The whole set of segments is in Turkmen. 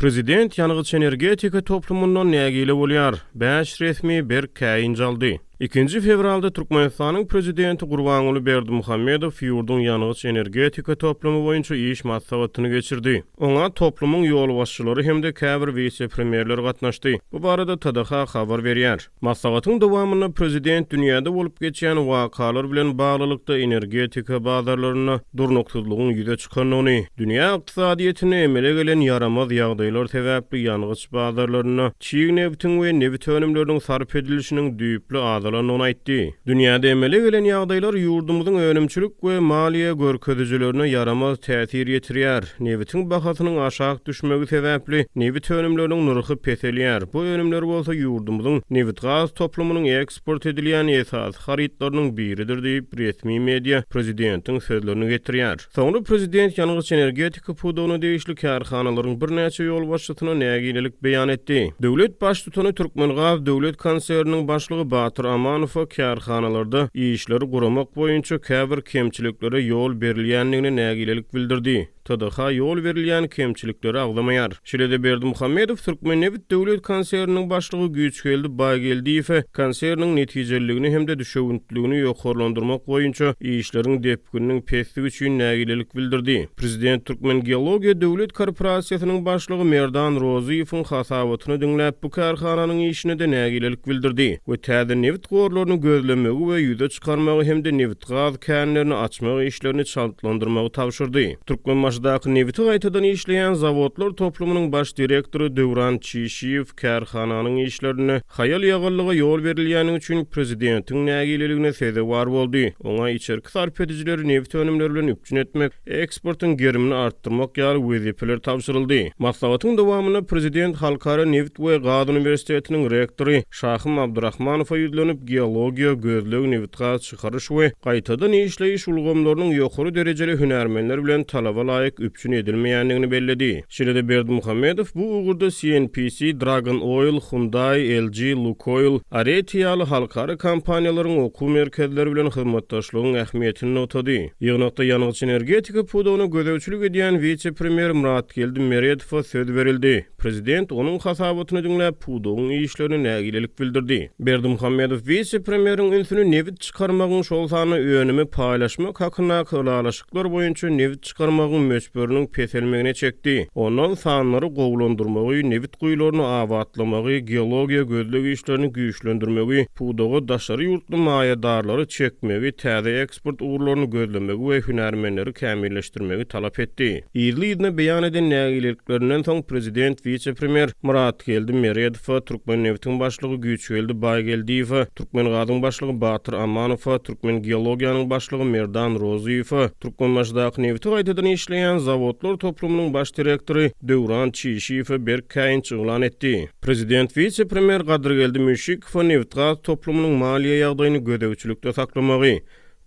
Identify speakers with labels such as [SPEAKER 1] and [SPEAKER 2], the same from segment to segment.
[SPEAKER 1] Prezident ýangyç-energetika toplumyndan nägile bolýar, bäş resmi berk käýinç aldy. Ikinji fewralda Türkmenistanyň Prezidenti Gurbanguly Berdimuhamedow ýurduň ýangyç-energetika toplumy boýunça iş maslahatyny geçirdi. Oňa toplumyň ýolbaşçylary hem-de käbir wise-premýerler gatnaşdy. Bu barada TDH habar berýär. Maslahatyň dowamynda Prezident dünýäde bolup geçýän wakalar bilen baglylykda energetika bazarlarynda durnuksyzlygyň ýüze çykandygyny, dünýä ykdysadyýetinde emele gelen ýaramaz ýagdaýlar sebäpli ýangyç bazarlarynda çig nebtiň we nebit önümleriniň sarp edilişiniň düýpli azalandygyny aýtdy. Dünýäde emele gelen ýagdaýlar ýurdumyzyň önümçilik we maliýe görkezijilerine ýaramaz täsir ýetirýär. Nebitiň bahasynyň aşak düşmegi sebäpli nebit önümleriniň nyrhy peselýär. Bu önümler bolsa ýurdumyzyň nebitgaz toplumynyň eksport edilýän esasy harytlarynyň biridir diýip, resmi media prezidentiň sözlerini getirýär. Soňra prezident ýangyç-energetika pudagyna degişli kärhanalaryň birnäçe ýolbaşçysyna nägilelik beýan etdi. Döwlet Baştutany Türkmengaz döwlet konserniniň başlygy Batyr Amanowa kärhanalarda işleri guramak boýunça käbir kemçiliklere ýol berilýändigine nägilelik bildirdi. TDH ýol berilýän kemçilikleri agzamaýar. Şeýle-de Berdimuhamedow Türkmennebit döwlet konserniniň başlygy Güýçgeldi Baýgeldiýewe konserniň netijeliligini hem-de düşewüntliligini ýokarlandyrmak boýunça işleriň pikiriniň pesdigi üçin nägilelik bildirdi. Prezident Türkmengeologiýa döwlet korporasiýasynyň başlygy Merdan Rozyýewiň hasabatyny diňläp, bu kärhananyň işine-de nägilelik bildirdi we täze nebit gorlaryny gözlemegi we ýüze çykarmagy hem-de nebitgaz känlerini açmak işlerini çaltlandyrmagy tabşyrdy. Türkmenbaşydaky nebiti gaýtadan işleýän zawodlar toplumynyň baş direktory Döwran Çişiýew, Kärhananyň işlerinde haýal-ýagallyga ýol berilýändigi üçin prezidentiň nägileligine sezewar boldy. Oňa içerki sarp edijileri nebit önümleri bilen üpjün etmek, eksportyň gerimini artdyrmak ýaly wezipeler tabşyryldy. Maslahatyň dowamynda prezident Halkara nebit we gaz uniwersitetiniň rektory Şahym Abdyrahmanowa ýüzlenip, geologiýa, gözleg, nebitgaz, çykaryş we gaýtadan işleýiş ulgamlarynyň ýokary derejeli hünärmenler bilen talaba laýyk üpjün edilmeýändigini belledi. Şeýle-de Berdimuhamedow bu ugurda CNPC, Dragon Oil, Hyundai, LG, Lukoil, Areti ýaly halkara kompaniýalaryň okuw merkezleri bilen hyzmatdaşlygyň ähmiýetini nygtady. Ýygnakda ýangyç-energetika pudagyna gözegçilik edýän wise-premýer Myratgeldi Meredowa söz berildi. Prezident onuň hasabatyny diňläp, pudagyň işlerine nägilelik bildirdi. Berdimuhamedow wise-premýeriň ünsüni nebit çykarmagyň, şol sanda önümi paýlaşmak hakyndaky ylalaşyklar boýunça nebit çykarmagyň möçberiniň peselmegine çekdi. Ondan sanlary gowulandyrmagy, nebit guýularyny abatlamagy, geologiýa gözleg işlerini güýçlendirmegi, pudaga daşary ýurtly maýadarlary çekmegi, täze sport ugurlaryny gözlemegi we hünärmenleri kämilleşdirmegi talap etdi. Yzly-yzyna beýan eden nägileliklerinden soň, Prezident wise-premýer Myratgeldi Meredowa, Türkmenneftiň başlygy Güýçgeldi Baýgeldiýewe, Türkmengazyň başlygy Batyr Amanowa, Türkmengeologiýanyň başlygy Merdan Rozyýewe, Türkmenbaşydaky nebiti gaýtadan işleýän zawodlar toplumynyň baş direktory Döwran Çişiýewe berk käýinç yglan etdi. Prezident wise-premýer Gadyrgeldi Müşşik, Kfo nebitgaz toplumynyň maliýe ýagdaýyny gözegçilikde saklamagy,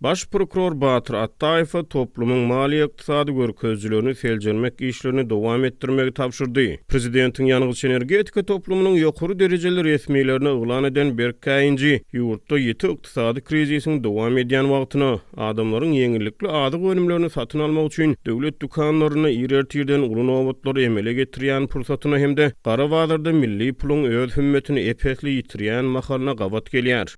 [SPEAKER 1] Baş prokuror Batyr Atdaýewe toplumyň maliýe-ykdysady görkezijilerini seljermek işlerini dowam etdirmegi tabşyrdy. Prezidentiň ýangyç-energetika toplumynyň ýokary derejeli resmilerine yglan eden berk käýinji, ýurtda ýiti ykdysady krizisiň dowam edýän wagtyna, Adamlaryň ýeňillikli azyk önümlerini satyn almak üçin döwlet dükanlarynda ir ertirden uly nobatlary emele getirýän pursatyna hem-de gara bazarda milli puluň öz hümmetini ep-esli ýitirýän mahalyna gabat gelýär.